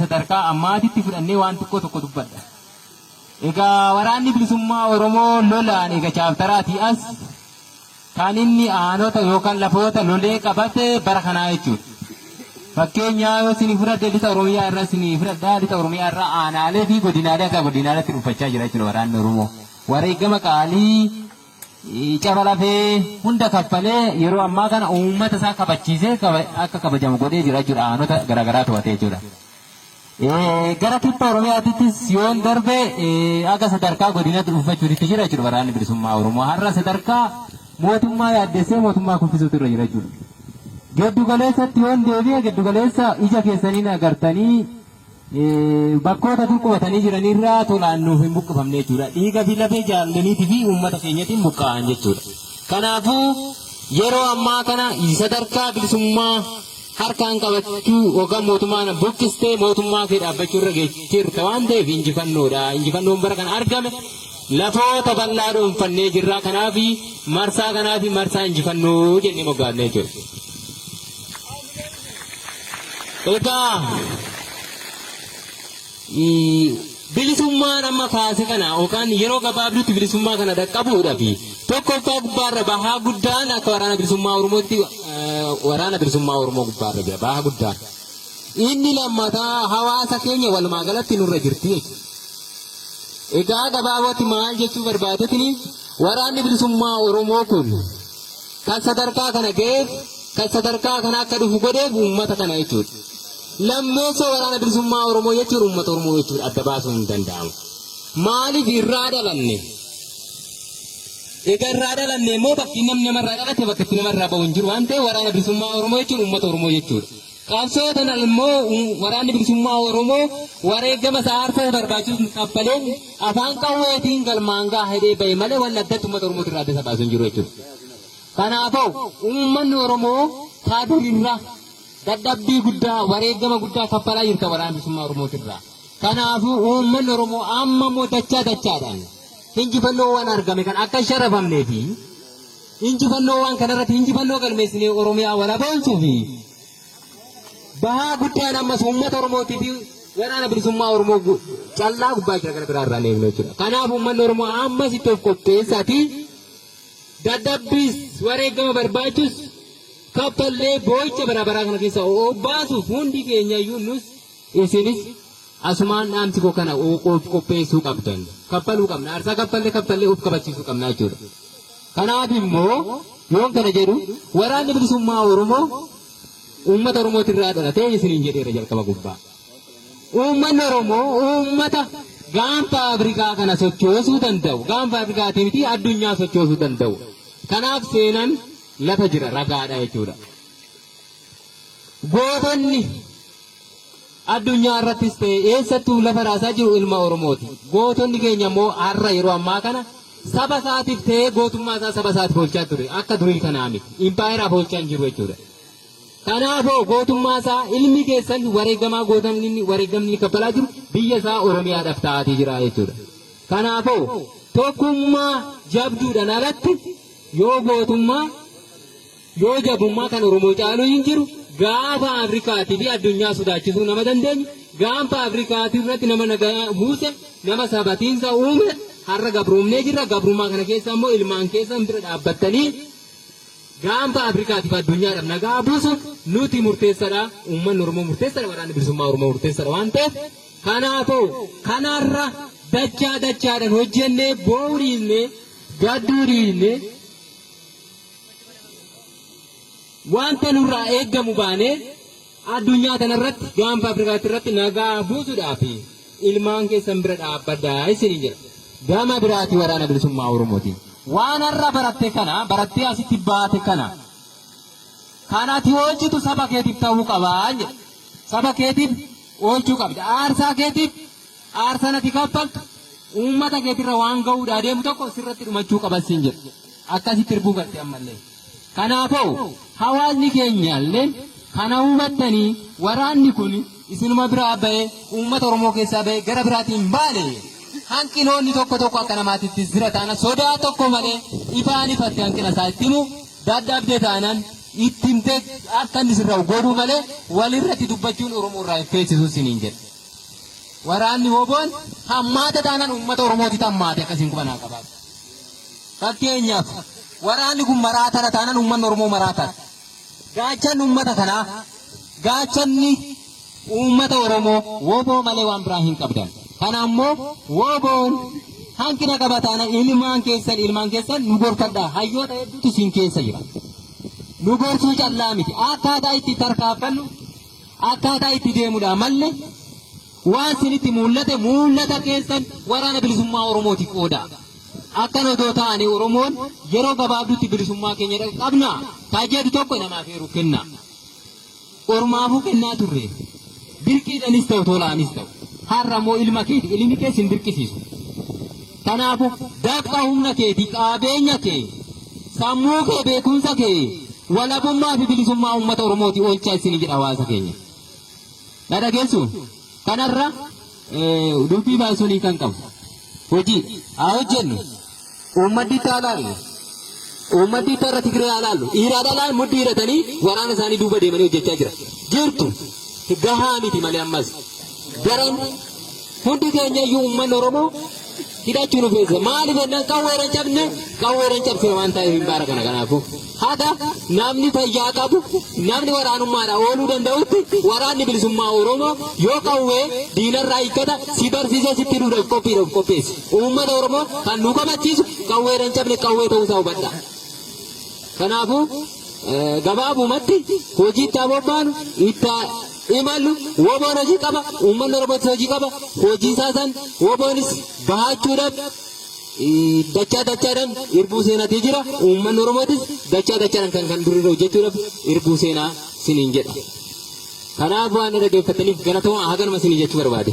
sadarkaa ammaatitti fudhannee waan xiqqoo tokko dubbadha. Egaa waraanni bilisummaa Oromoo lolaan eega chaaptaraatii as kan inni aanota yookaan lafoota lolee qabate bara kanaa jechuudha. Fakkeenyaa yoo isinii fudhadhe lixa Oromiyaa irraa isinii fudhadha lixa Oromiyaa irraa aanaalee fi godinaalee akka godinaaleetti dhuunfachaa jira jechuudha waraanni Oromoo. Wareegama qaalii caba lafee hunda kaffalee yeroo ammaa kana uummata isaa kabachiisee akka kabajamu godhee jira jechuudha aanota garaagaraa to'atee jechuudha. Gara kibba Oromiyaattis yoon darbe akka sadarkaa godinaatti dhuunfachuutti jira jechuudha waraanni bilisummaa Oromoo har'a sadarkaa mootummaa yaaddessee mootummaa kuffisuutu irra jira jechuudha. Giddu galeessatti yoon deebi'e giddu galeessa ija keessaniin agartanii bakkoota dur qubatanii jiranirraa tolaan nuuf hin buqqifamne jechuudha. Dhiiga fi lafee jaalloliitii fi uummata keenyatiin buqqa'an jechuudha. Kanaafuu yeroo ammaa kana sadarkaa bilisummaa harkaan qabachuu yookaan mootummaan buqqistee mootummaa kee dhaabbachuu irra geejjirta waan ta'eef injifannoodha. Injifannoon bara kana argame lafoota bal'aa dhuunfannee jirra. Kanaaf marsaa kanaaf marsaa injifannoo jennee moggaafne jechuudha. Egaa bilisummaan amma kaase kana yookaan yeroo gabaabduutti bilisummaa kana dhaqqabuudha fi tokkoffaa gubbaarra bahaa guddaan akka waraana bilisummaa Oromootti waraana bilisummaa Oromoo gubbaarra jira bahaa guddaan. Inni lammataa hawaasa keenya walumaa galatti nurra jirti jechuudha. Egaa gabaabatti maal jechuu barbaadetini waraanni bilisummaa Oromoo kun Kan sadarkaa kana ga'eef, kan sadarkaa kana akka dhufu godheef uummata kana jechuudha. Lammeessoo waraana bilisummaa Oromoo jechuun uummata Oromoo jechuudha adda baasuun hin danda'amu. Maaliif irraa dhalanne? Egaa irraa dhalanne immoo bakki namni namarraa dhalate bakka itti namarraa bahu hin jiru waan ta'eef waraana bilisummaa Oromoo jechuun uummata Oromoo jechuudha. Qabsoo tana immoo Waraanni Bilisummaa Oromoo wareegama isaa aarsaa barbaachisu kaffaleen afaan qawweetiin galmaan gaha hidhee bahe malee wanni addatti uummata Oromootti irraa adda isa baasu hin jiru jechuudha. Kanaafuu uummanni Oromoo taa durirra dadhabbii guddaa wareegama guddaa kaffalaa jirta waraana bilisummaa Oromootirra. Kanaafuu uummanni Oromoo amma immoo dachaa dachaadhaan injifannoo waan argame kan akka hin sharafamnee fi Injifannoo waan kanarratti injifannoo galmeessinee Oromiyaa walaboomsuu fi bahaa guddaan ammas uummata Oromootii fi waraana bilisummaa Oromoo gu- callaa gubbaa jira gara biraa irraa hin eegnu jechuudha. Kanaaf uummanni Oromoo ammas itti of qopheessaati. Dadhabbiis wareegama barbaachus kaffallee boo'icha bara baraa kana keessa obbaasuuf hundi keenya iyyuu nus isinis Asumaan dhaamsi koo kana of qopheessuu qabdan. Kaffaluu qabna. Aarsaa kaffalle kaffalle of kabachiisuu qabna jechuudha. Kanaaf immoo yoon kana jedhu waraanni bilisummaa Oromoo uummata Oromootu irraa dhalatee isiniin jedheera jalqaba gubbaa. Uummanni Oromoo uummata gaanfa Afrikaa kana sochoosuu danda'u. Gaanfa Afrikaatii miti addunyaa sochoosuu danda'u. Kanaaf seenan lafa jira ragaadha jechuudha. Gootonni Addunyaa irrattis ta'e eessattuu lafa raasaa jiru ilma Oromooti. Gootonni keenya immoo har'a yeroo ammaa kana saba isaatiif ta'ee gootummaa isaa saba isaatiif oolchaa ture. Akka durii kanaa miti. Impaayeraaf oolchaa hin jiru jechuudha. Kanaafoo gootummaa isaa ilmi keessan wareegamaa gootamni inni wareegamni inni kaffalaa jiru biyya isaa Oromiyaadhaaf ta'aatii jira jechuudha. Kanaafoo tokkummaa jabduudhaan alatti yoo gootummaa Yoo jabummaa kan Oromoo caalu hin jiru, gaafa Afrikaatii fi addunyaa sodaachisuu nama dandeenye, gaanfa Afrikaatii irratti nama nagaa buuse, nama sabatiinsa uume, har'a gabroomnee jirra, gabrummaa kana keessa immoo ilmaan keessan bira dhaabbattanii gaanfa Afrikaatii fi addunyaadhaaf nagaa buusuun nuti murteessadha, uummanni Oromoo murteessadha, waraanni bilisummaa Oromoo murteessadha waan ta'eef, kanaafuu kanarra dachaa dachaadhaan hojjennee boo'uu dhiisnee gadduu dhiisnee Wanta nurraa eeggamu baanee addunyaa tanarratti gaanfa Afrikaatti irratti nagaa buusuudhaaf ilmaan keessan bira dhaabbadhaa isiniin jedha. Gama biraatii waraana bilisummaa Oromootiin waan har'a baratte kana barattee asitti baate kana kan ati oolchitu saba keetiif ta'uu qabaa jedha. Saba keetiif oolchuu qabda. Aarsaa keetiif aarsaa ati kaffaltu uummata keetirra waan ga'uudhaa deemu tokko sirratti dhumachuu qabas siin jedha. akkasitti irbuu galte ammallee. Kanaafuu hawaasni keenyaalleen kana hubattanii waraanni kun isinuma biraa ba'ee uummata Oromoo keessaa ba'ee gara biraatti hin baane hanqinoonni tokko tokko akka namaatitti jira taana sodaa tokko malee ifaan ifatti hanqina isaa itti himu dadhabde taanan itti himtee akka inni sirraa godhuu malee walirratti dubbachuun Oromoo irraa hin feesisu siniin jedha. Waraanni hoboon hammaata taanan uummata Oromooti tammaate akkasiin qubanaa qabaatu. Fakkeenyaaf, waraanni kun maraatadha taanaan uummanni Oromoo maraatadha. Gaachanni uummata kanaa, gaachanni uummata Oromoo woboo malee waan biraa hin qabdan. Kana ammoo woboon hanqina qaba taanaan ilmaan keessan ilmaan keessan nu gorfadhaa. Hayyoota hedduutu isin keessa jira. Nu gorsuu callaa miti. Akkaataa itti tarkaanfannu, akkaataa itti deemudha malle Waan sinitti muul'ate muul'ata keessan waraana bilisummaa Oromootiif qoodaa. Akkan odoo taane Oromoon yeroo gabaabdutti bilisummaa keenya dhaqqabna taa jedhu tokko namaaf eeru kenna. Ormaafuu kennaa turre. Dirqiidhanis ta'u tolaanis ta'u. Har'a immoo ilma keeti ilmi kee sin dirqisiisu. Kanaafuu dafqa humna keeti qabeenya kee sammuu kee beekumsa kee walabummaa fi bilisummaa uummata Oromooti oolchaa isin jedha hawaasa keenya. Na dhageessu? Kanarra dubbii baay'isuun hiika hin qabu. Hojii haa hojjennu. Uummaddi itti haa laallu. Uummaddi itti irra Tigree haa laallu. Dhiiraa dhalaan mudhii hidhatanii waraana isaanii duuba deemanii hojjechaa jira. Jirtu gahaa miti malee ammas daran Hundi keenya iyyuu uummanni Oromoo hidhachuu nu feesisa. Maaliif jennaan qawweedhaan cabne qawweedhaan cabsina waan ta'eef hin baara kana kanaafuu. Haga namni fayyaa qabu namni waraanummaadhaan ooluu danda'utti waraanni bilisummaa Oromoo yoo qawwee diinarraa hiikkata si barsiisee sitti duudhaaf qophiidha of qopheessi. Uummata Oromoo kan nu kabachiisu qawweedhaan cabne qawwee ta'uusaa hubadha. Kanaafuu eh, gabaabumatti hojiitti haa bobbaanu itti haa imalu woboon hojii qaba uummanni oromootis hojii qaba hojii isaa san woboonis bahaachuudhaaf eh, dachaa dachaadhaan irbuu seenatii jira uummanni oromootis dachaa dachaadhaan kan kan durirra hojjechuudhaaf irbuu seenaa siniin jedha kanaaf waan na dhageeffataniif galatooma haganuma sinii jechuu barbaade.